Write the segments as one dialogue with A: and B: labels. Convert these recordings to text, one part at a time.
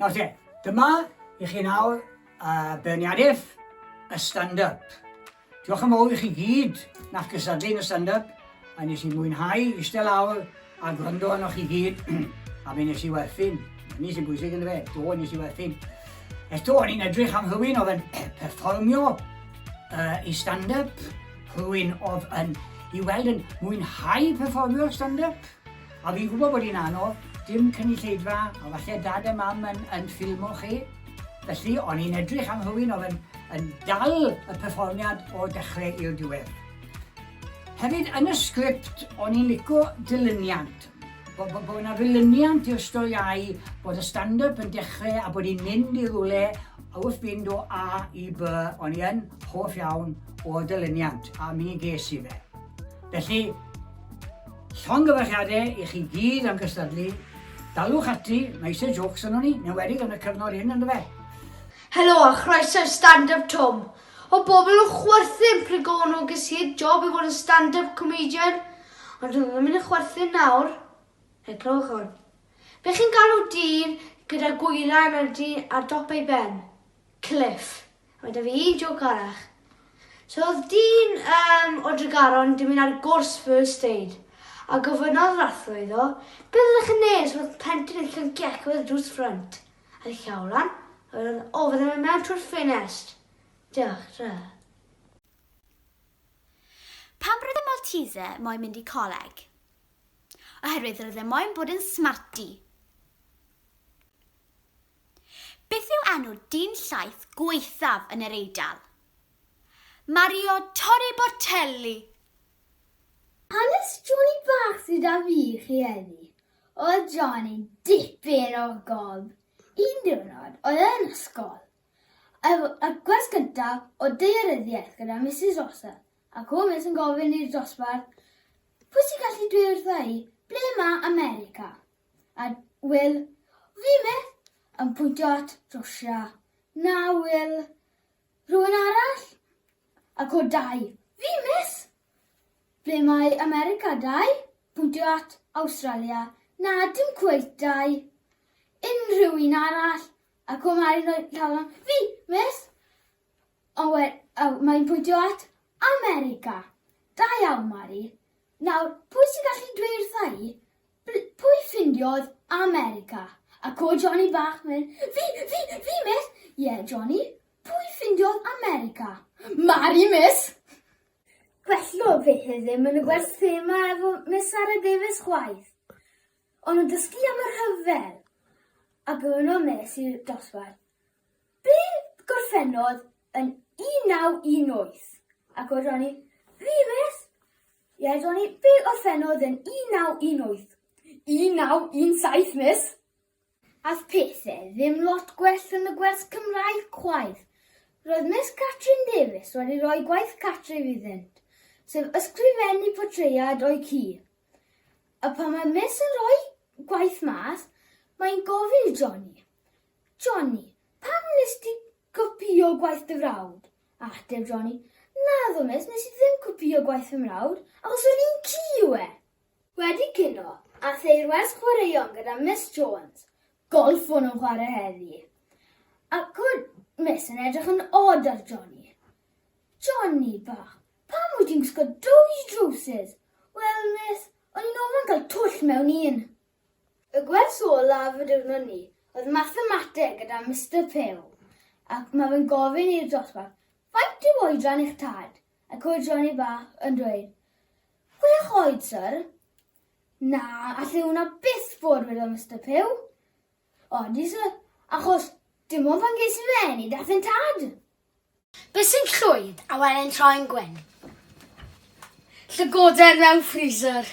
A: Nawr te, dyma i chi nawr uh, beirniadaeth y stand-up. Diolch yn fawr i chi gyd nach gysadlu yn y stand-up, a nes i mwynhau eistedd lawr a gwrando arno chi gyd, a fe nes i werthu'n, ni sy'n bwysig yn y fe, do nes i werthu'n. Eto, o'n i'n edrych am rhywun oedd yn perfformio uh, i stand-up, Rwy'n oedd yn i weld yn mwynhau perfformio stand-up, a fi'n gwybod bod hi'n anodd, dim cynulleidfa, a falle dad a mam yn, yn ffilmo chi. Felly, o'n i'n edrych am rhywun oedd yn, yn dal y perfformiad o'r dechrau i'r diwedd. Hefyd, yn y sgript, o'n i'n lico dilyniant, Bo, bo, bo 'na ddilyniant i'r storiau bod y stand-up yn dechrau a bod hi'n mynd i rwle wrth fynd o A i B, o'n i yn hoff iawn o'r dilyniant a mi ges i fe. Felly, llongyfarchiadau i chi gyd am gystadlu, dalwch ati, mae eisiau jokes yn o'n i, newedig yn y cyfnod hyn ynddo fe. Helo a chroeso i Stand Up Twm. Odd pobl yn chwerthin pryd gafon nhw ges i'r job i fod yn stand up comedian ond dydw ddim yn chwerthin nawr. Hei clywch hwn. Be chi'n galw dyn gyda gwylan ar dyn ar dop ei ben? Cliff. A mae da fi un jôc arall. So oedd dyn um, o Dregaron di mynd ar gwrs first aid a gofynnodd yr athro iddo beth ydych chi'n neud os oedd plentyn yn llyncu eich oedd y drws ffrynt? Ar y llaw lan, a wedyn oedd o fydde fe mewn trwy'r ffenest. Diolch, tra. Pam roedd y Maltese moyn mynd i coleg? Oherwydd roedd e moyn bod yn smarty. Beth yw enw dyn llaeth gwaethaf yn yr Eidal? Mario Torri Bortelli. Hanes Johnny bach sydd 'da fi i chi heddi. Oedd John yn dipyn o gob. Un diwrnod, oedd e yn ysgol. Efo y gwers gyntaf o daearyddiaeth gyda Misus Rossell, ac o Miss yn gofyn i'r dosbarth, Pwy sy'n gallu dweud wrtha i ble mae America? A Will, Fi Miss, yn pwyntio at Rwsia. Na, Will. Rhywun arall? Ac o dau, Fi Miss, Ble mae America dau? Pwyntio at Awstralia. Na, dim cweit dau. Unrhyw un arall? A Cwm Mari'n rhoi llaw lan. Fi, miss! Ond we, a, mae'n pwyntio at America. Da iawn, Mari. Nawr, pwy sy'n gallu dweud wrtha i, bl- pwy ffindiodd America? A co Johnny bach myn, fi, fi, fi, miss! Ie, yeah, Johnny, pwy ffindiodd America? Mari, miss! Gwello fi hi ddim yn y gwers thema efo Miss Sara Davies chwaith. O'n nhw'n dysgu am y rhyfel. Ac yno mes i'r dosbarth. Be gorffennodd yn 1918? Ac oedd Ronnie, fi mes? Ie, Ronnie, be orffennodd yn 1918? 1917, mis! Ath pethe ddim lot gwell yn y gwers Cymraeg chwaith. Roedd Miss Catrin Davies wedi rhoi gwaith cartref iddynt, sef ysgrifennu portread o'i ci. A pan mae Miss yn rhoi gwaith mas, mae'n gofyn i Johnny, Johnny, pam wnes di gopïo gwaith dy frawd? A ateb Johnny, Naddo Miss, nes i ddim copïo gwaith fy mrawd, achos yr un ci yw e! Wedi cino a theyrwest chwaraeon gyda Miss Jones. Golff fo nhw'n chwarae heddi. Ac oedd Miss yn edrych yn od ar Johnny. Johnny bach, pam wyt ti'n gwisgo dwy drowsus? Wel, Miss, o'n i'n ofyn cael twll mewn un. Y gwers olaf y diwrnod ni oedd mathemateg gyda Mister Pugh ac mae fe'n gofyn i'r dosbarth, Faint yw oedran eich tad? Ac oedd Johnny Bach yn dweud, Chwech oed, syr? Na, alle hwnna byth fod, wedodd Mister Pugh. Odi, syr, achos dim ond pan ges i fy eni dath e'n tad. Beth sy'n llwyd, a wele'n troi'n gwyn? Llygoden mewn freezer.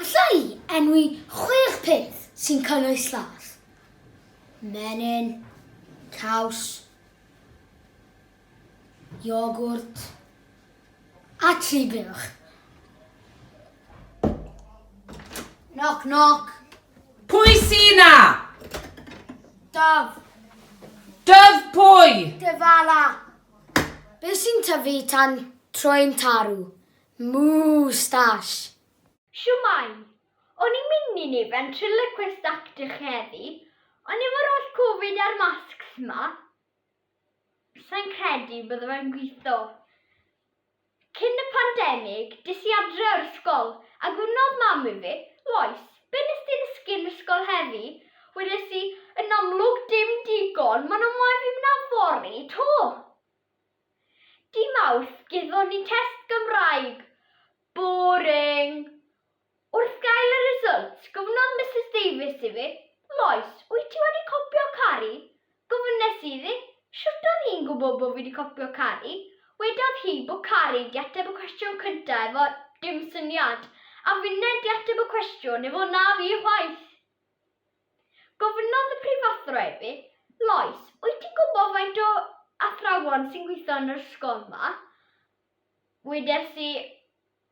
A: Alla i enwi chwech peth sy'n cynnwys llath? Menyn, caws, iogwrt a tri buwch. Knock, knock. Pwy sy'n na? Daf. Dyf pwy? Dyfala. Be sy'n tyfu tan troi'n tarw? Moustache. Siwmai. O'n i'n mynd i ni ventriloquist actych heddi, ond efo'r oll Covid a'r masks ma, Sai'n credu bydde fe'n gwitho. Cyn y pandemig, des i adre o'r ysgol, a gofynnodd mam i fi, Lois, be nes di ddysgu yn ysgol heddi? Wedes i, Yn amlwg dim digon, maen nhw'n moyn fi mynd â fory 'to! Dy Mawrth, gethon ni test Gymraeg. Boring! Wrth gael y result, gofynnodd Misus Davies i fi, Lois, wyt ti wedi copio Cari? Gofynes i iddi, Shwt oedd hi'n gwybod bod fi wedi copio Cari? Wedodd hi bod Cari 'di ateb y cwestiwn cynta' efo 'dim syniad', a finne 'di ateb y cwestiwn efo 'na fi chwaith'. Gofynnodd y prifathro i fi, Lois, wyt ti'n gwybod faint o athrawon sy'n gweithio yn yr ysgol 'ma? Wedes i,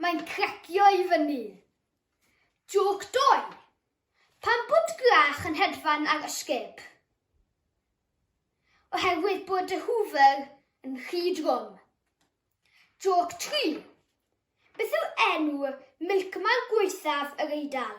A: Mae'n cracio i fyny. Jôc doi! Pam bod gwlach yn hedfan ar ysgub? Oherwydd bod y Hoover yn rhy drwm. Jôc tri! Beth yw enw milkman gwaethaf yr Eidal?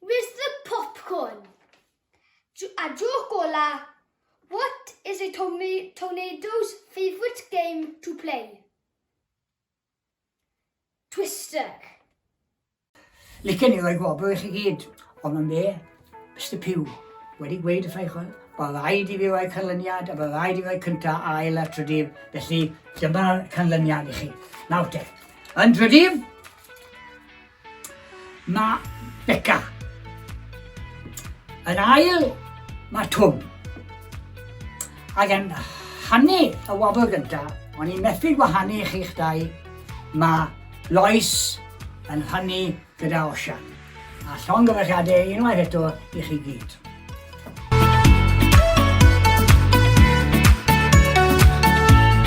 A: Where's the popcorn? A joc ola, what is a tornado's favourite game to play? Twister. Licen i roi gwobr i chi gyd, ond yn be, Mr Pew, wedi gweud y ffraich hwn, bod rhaid i fi roi canlyniad a bod rhaid i fi roi cynta a ail a trydydd, felly dyma'r canlyniad i chi. Nawr te, yn trydydd, Mae Beca. Yn ail, mae Twm. Ac yn hanu y wobr gyntaf, o'n i'n methu gwahanu chi'ch dau, mae Lois yn hanu gyda Osian. A llon gyfechiadau unwaith eto i chi gyd.